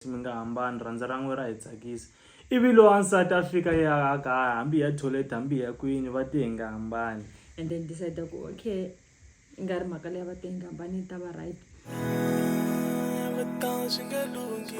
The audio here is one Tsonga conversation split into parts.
Mi nga hambani, rhandza ra n'we ra hi tsakisa. Ivi loyi wa nsati a fika a ya a ka, hambi hi ya thoyilete, hambi hi ya kwini, va te hi nga hambani. And then decide ku okay, yi nga ri mhaka leyi va te hi nga hambani yi ta va right. Swi nge lunghi.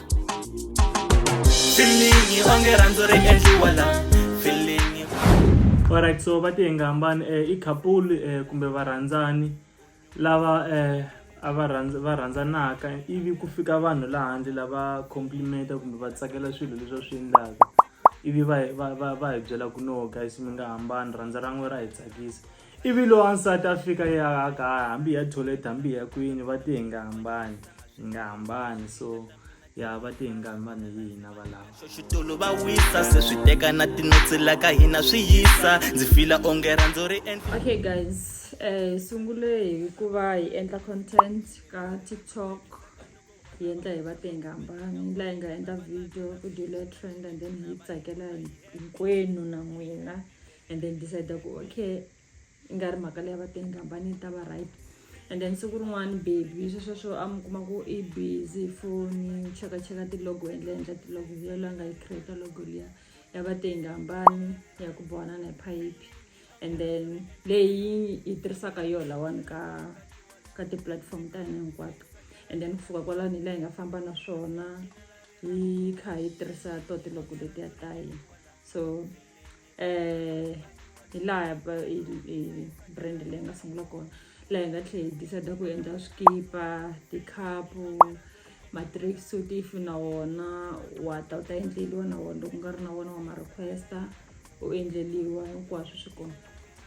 alright so va tiyenga hambani um i couple um kumbe varhandzani lava um a va rhandza va rhandzanaka ivi ku fika vanhu laha handle lava complimenta kumbe va tsakela swilo leswi va swi endlaka ivi va va va va hi byela ku no guys mi nga hambani rhandza ra n'we ra hi tsakisa Ivi loyi wansati a fika yi a ka hambi hi ya toilet hambi hi ya kwini va te hi nga hambani hi nga hambani so ya va te hi nga hambani hi hina valava xitulu va wisa se swi teka na tinotsi la ka hina swi yisa ndzi fila onge rhandzu ri endla okay guys eh sungule hi ku va hi endla content ka tiktok hi endla hi va te hi nga hambani laha hi nga endla video video leya trend and then hi yi tsakela hinkwenu na n'wina and then decide ku okay i nga ri mhaka leyi va teni kambani yi ta va right and then siku rin'wana baby swesweswo a mi kuma ku i busy foni chekacheka tilogo endla endla tilogo liya loyi a nga yi creata logo liya ya va teni kambani ya ku bohana na hi phayiphi and then leyi yi tirhisaka yo lawani ka ka tiplatform ta hina hinkwato and then ku fika kwalani hi laha hi nga famba na swona yi kha yi tirhisa to tiloko letiya ta hina so eh, hi laha brand leyi nga sungula kona laha hi nga tlhela hi decide ku endla swikipa tikhapu matrix suit if na wona wa ta u ta endleliwa na wona loko u nga ri na wona wa ma requesta u endleliwa hinkwaswo swi kona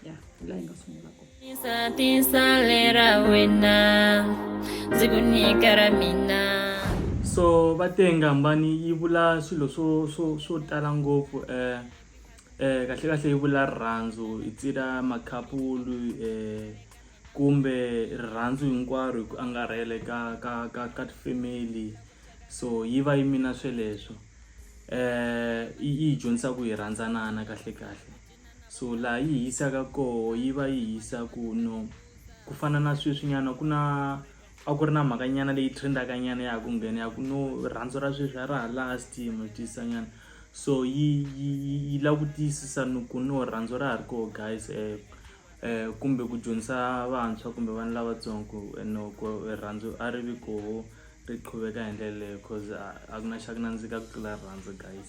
ya la hi nga sungula kona Tisa, tisa lera wena ndzi ku nyika ra mina so va te ngambani yi vula swilo swo swo swo tala ngopfu eh eh kahle kahle yi vula rirhandzu itsira makhapulu eh kumbe rirhandzu hinkwaro hi ku angarhele ka ka ka ka family so yi va yi mina sweleswo eh yi yi hi dyondzisa ku hi rhandzanana kahle kahle so laha yi hisaka koho yi va yi hisa ku no ku fana na sweswi nyana ku na a ku ri na mhaka nyana leyi trendaka nyana ya ha ku nghena ya ku no rhandzu ra sweswi a ra ha last mo tisa nyana so yi yi yi lava ku tiyisisa ni ku no rhandzu ra ha ri koho guys um um kumbe ku dyondzisa vantshwa kumbe vana lavatsongo no ku rhandzu a ri vi koho ri qhuveka hi ndlela leyo cause a ku na xa ku nandzika ku tlula rhandzu guys.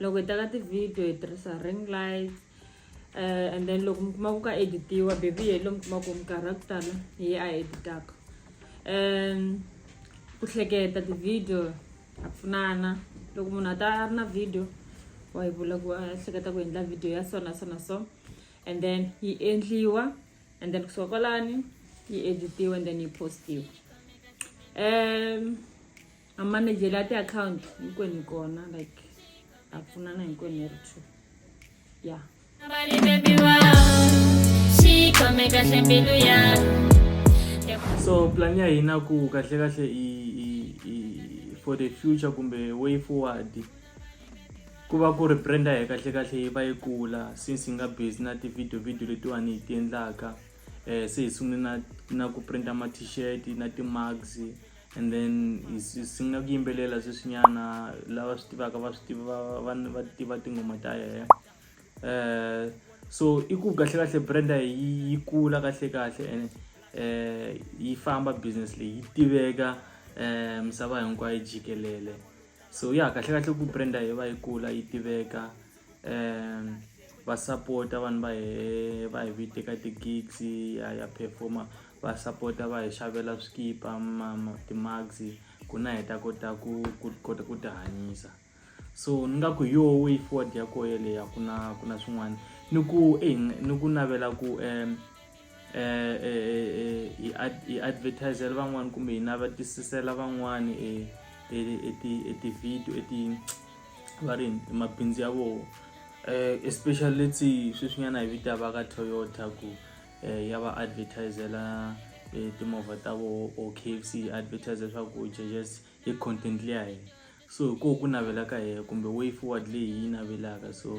loko hi teka ti-video hi tirhisa ring light um and then loko mi kuma ku ka editiwa baby hi lo mi kuma ku minkarhi ya ku tala hi a editaka um ku hleketa ti-video ha pfunana loko munhu a ta a ri na video wa hi vula ku a hleketa ku endla video ya so na so na so and then yi endliwa and then kusuka kwalani yi editiwa and then yi postiwa um mamanejele ya tiakhawunti hinkwenu kona like ha pfunana hinkwenu hi ri two ya so plan ya hina ku kahle kahle i for the future kumbe way forward ku va ku ri brand ya hi kahle kahle yi va yi kula since hi nga busy na ti-video video letiwani hi ti endlaka um se hi sungule na na ku printa ma-t-shirt na ti-mugs and then hi sungula ku yimbelela sweswinyana lava swi tivaka va swi tiva va va tiva tinghoma ta yena um so i ku kahlekahle brand ya hi yi kula kahlekahle ene um yi famba business leyi yi tiveka um misava hinkwayo jikelele so ya kahlekahle ku brand yi va yi kula yi tiveka. va sapota vanhu va hehe va hi vite ka ti-gigs ha ya perform-a va sapota va hi xavela swikipa ma ma ti-mugs ku na hi ta kota ku ku kota ku tihanyisa so ni nga ku hi yoho way forward ya koho yeleyo a ku na ku na swin'wana ni ku ni ku navela ku . eh, eh, eh, hi ad- hi advertisela van'wani kumbe hi navatisisela van'wani eh, eh, eh, ti- eh, ti-video eh, ti- va rini eh, mabindzu ya vona eh, especially leti sweswinyana hi vita va ka toyota ku eh, ya va advertisela eh, timovha ta vona or kfc yi advertisela leswaku jejest hi content leya hina so hi koho ku navela ka hina kumbe way forward leyi hi yi navelaka so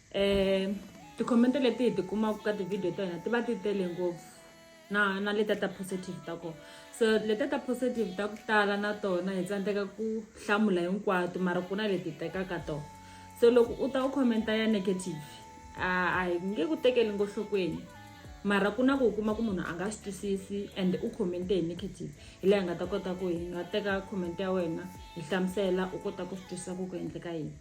eh tikhomente leti hi ti kumaka ka tivhidiyo ta hina ti va ti tele ngopfu na na leta ta positive ta kona so leta ta positive ta ku tala na tona hi tsandzeka ku hlamula hinkwato mara ku na leti tekaka tona so loko u ta u khomenta ya negative a hi nge ku tekeli ngo nhlokweni mara ku na ku u kuma ku munhu a nga swi twisisi and u khomente hi negative hi leyi hi nga ta kota ku hi nga teka khomente ya wena hi hlamusela u kota ku swi twisisa ku ku endleka yini